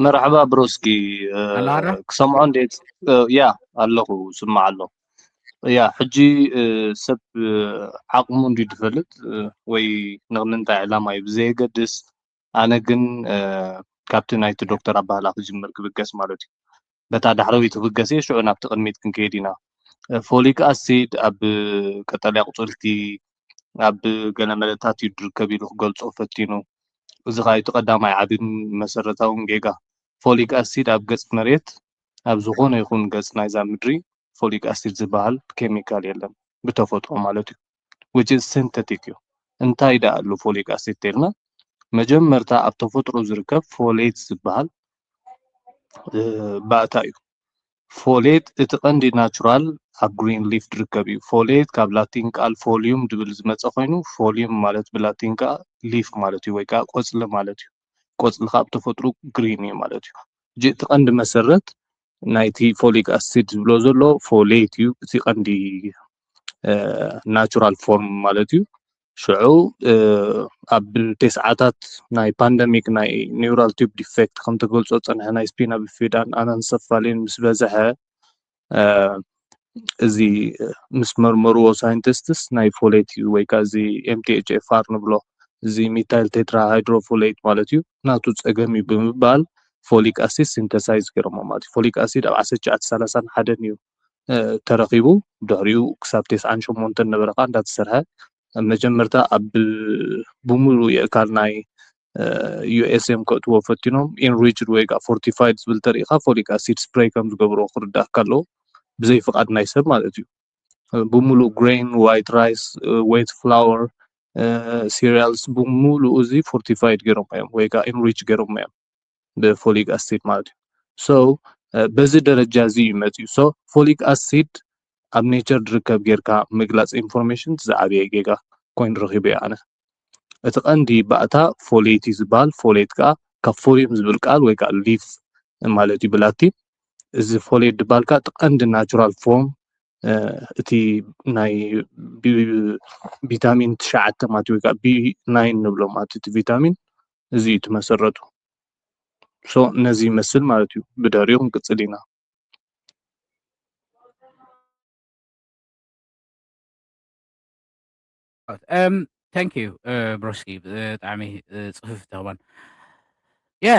መርሓባ ብሮስኪ ኣላ ዶ ክሰምዖ እንዴት ያ ኣለኹ ስማዕ ኣሎ ያ ሕጂ ሰብ ዓቕሙ እንዲ ዝፈልጥ ወይ ንቕንንታይ ዕላማ እዩ ብዘየገድስ ኣነ ግን ካብቲ ናይቲ ዶክተር ኣባህላ ክጅምር ክብገስ ማለት እዩ በታ ዳሕረወይቲ ክብገስ እየ ሽዑ ናብቲ ቅድሚት ክንከይድ ኢና ፎሊክ ኣሲድ ኣብ ቀጠልያ ቁጽርቲ ኣብ ገለ መደታት እዩ ድርከብ ኢሉ ክገልጾ ፈቲኑ እዚ ኸኣ እቲ ቀዳማይ ዓብን መሰረታውን ጌጋ ፎሊክ ኣሲድ ኣብ ገጽ መሬት ኣብ ዝኾነ ይኹን ገጽ ናይዛ ምድሪ ፎሊክ ኣሲድ ዝበሃል ኬሚካል የለን ብተፈጥሮ ማለት እዩ which is synthetic እዩ እንታይ ድኣ ኣሎ ፎሊክ ኣሲድ ተልና መጀመርታ ኣብ ተፈጥሮ ዝርከብ ፎሌት ዝበሃል ባእታ እዩ ፎሌት እቲ ቀንዲ ናቹራል ኣብ ግሪን ሊፍ ዝርከብ እዩ ፎሌት ካብ ላቲን ቃል ፎሊዩም ድብል ዝመፀ ኮይኑ ፎሊዩም ማለት ብላቲን ከዓ ሊፍ ማለት እዩ ወይ ከዓ ቆፅሊ ማለት እዩ ቆፅሊ ካብ ተፈጥሮ ግሪን እዩ ማለት እዩ እቲ ቀንዲ መሰረት ናይቲ ፎሊክ ኣሲድ ዝብሎ ዘሎ ፎሌት እዩ እቲ ቀንዲ ናቹራል ፎርም ማለት እዩ ሽዑ ኣብ ቴስዓታት ናይ ፓንደሚክ ናይ ኒውራል ቲብ ዲፌክት ከምተገልፆ ፀንሐ ናይ ስፒና ብፊዳን ኣናንሰፋሊን ምስ በዝሐ እዚ ምስ መርመርዎ ሳይንቲስትስ ናይ ፎሌት እዩ ወይ ከዓ እዚ MTHFR ንብሎ እዚ ሚታይል ቴትራ ሃይድሮ ፎሌት ማለት እዩ ናቱ ፀገም እዩ ብምባል ፎሊክ ኣሲድ ሲንተሳይዝ ገይሮሞ ማለት እዩ ፎሊክ ኣሲድ ኣብ ዓሰርተ ትሽዓተ ሰላሳን ሓደን እዩ ተረኺቡ ድሕሪኡ ክሳብ ቴስዓን ሸሞንተን ነበረ ከዓ እንዳተሰርሐ መጀመርታ ኣብ ብምሉእ የእካል ናይ USM ከእትዎ ፈቲኖም ኢንሪችድ ወይ ከዓ ፎርቲፋይድ ዝብል ተሪኢኻ ፎሊክ ኣሲድ ስፕሬይ ከም ዝገብሮ ክርዳእካ ኣለዎ ብዘይ ፍቃድ ናይ ሰብ ማለት እዩ ብምሉእ ግሬን ዋይት ራይስ ዌት ፍላወር ሲሪያልስ ብምሉእ እዚ ፎርቲፋይድ ገይሮም እዮም ወይ ከዓ ኢንሪች ገይሮም እዮም ብፎሊክ ኣሲድ ማለት እዩ። ሶ በዚ ደረጃ እዚ እዩ መፂኡ። ሶ ፎሊክ ኣሲድ ኣብ ኔቸር ዝርከብ ጌርካ ምግላፅ ኢንፎርሜሽን ዝዓበየ ጌጋ ኮይኑ ረኺበዮ ኣነ። እቲ ቀንዲ ባእታ ፎሌት እዩ ዝበሃል። ፎሌት ከዓ ካብ ፎሊየም ዝብል ቃል ወይ ከዓ ሊፍ ማለት እዩ ብላቲን። እዚ ፎሌት ዝበሃል ከዓ እቲ ቀንዲ ናቹራል ፎርም እቲ ናይ ቢ- ቢ- ቪታሚን ትሽዓተ ማለት እዩ ወይ ከዓ ቢ ናይን ንብሎ ማለት እቲ ቪታሚን እዚ እዩ እቲ መሰረቱ so ነዚ ይመስል ማለት እዩ ብድሕሪኡ ክንቅፅል ኢና። ታንክ ዩ ብሮስኪ ብጣዕሚ ፅፍፍ ተኽባን የ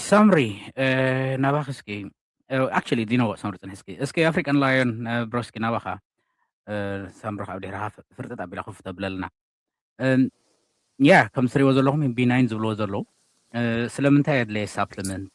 ሳምሪ ናባኺ እስኪ ኣክቹሊ ዲኖ ሳምሪ ፅንሒ እስኪ እስኪ ኣፍሪካን ላዮን ብሮስኪ ናባኻ ሳምሪ ካብ ድሕርኻ ፍርጥጥ ኣቢላ ክፍ ተብለልና ያ ከምትሪእዎ ዘለኹም ቢናይን ዝብልዎ ዘለዉ ስለምንታይ ኣድለየ ሳፕልመንት